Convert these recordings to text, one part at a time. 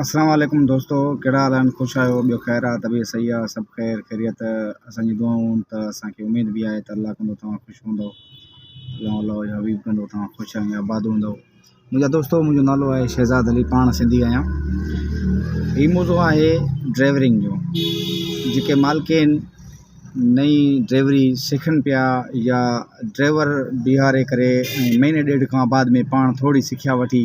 السلام عليڪم دوستو ڪهڙا حال آهن خوش آهيو ٻيو خير آهي طبيعت صحيح آهي سڀ خير خيريت اسان جي دعائون آهن ته اسان کي اميد به آهي ته الله ڪندو توهان خوش هوندو الله الله جو حبيب ڪندو توهان خوش ۽ آباد هوندو منهنجا دوستو منهنجو نالو آهي شهزاد علي پاڻ سنڌي آهيان هي موضوع آهي ڊرائيورنگ جو جيڪي مالڪين نئي ڊرائيوري سکن پيا يا ڊرائيور بيهاري ڪري مهيني ڏيڍ کان بعد ۾ پاڻ ٿورڙي سکيا وٺي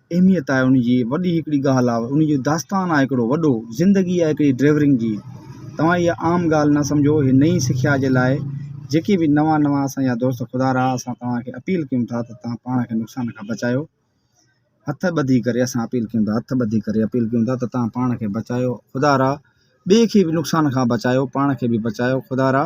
اهميت آهي ان جي وڏي هڪڙي ڳالهه آهي ان جو داستان آهي هڪڙو وڏو زندگي آهي هڪڙي ڊرائيورنگ جي توهان اها عام ڳالهه نه سمجهو هي نئي سکيا جي لاء جيڪي به نوان نوان اسانجا دوست خدا رها اسان توهان کي اپيل ڪيون ٿا ته توهان پاڻ کي نقصان کان بچايو هٿ ٻڌي ڪري اسان اپيل ڪيون ٿا هٿ ٻڌي ڪري اپيل ڪيون ٿا ته توهان پاڻ کي بچايو خدا رها ٻئي کي به نقصان کان بچايو پاڻ کي به بچايو خدا رها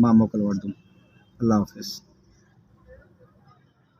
مان موڪل وٺندم الله حافظ.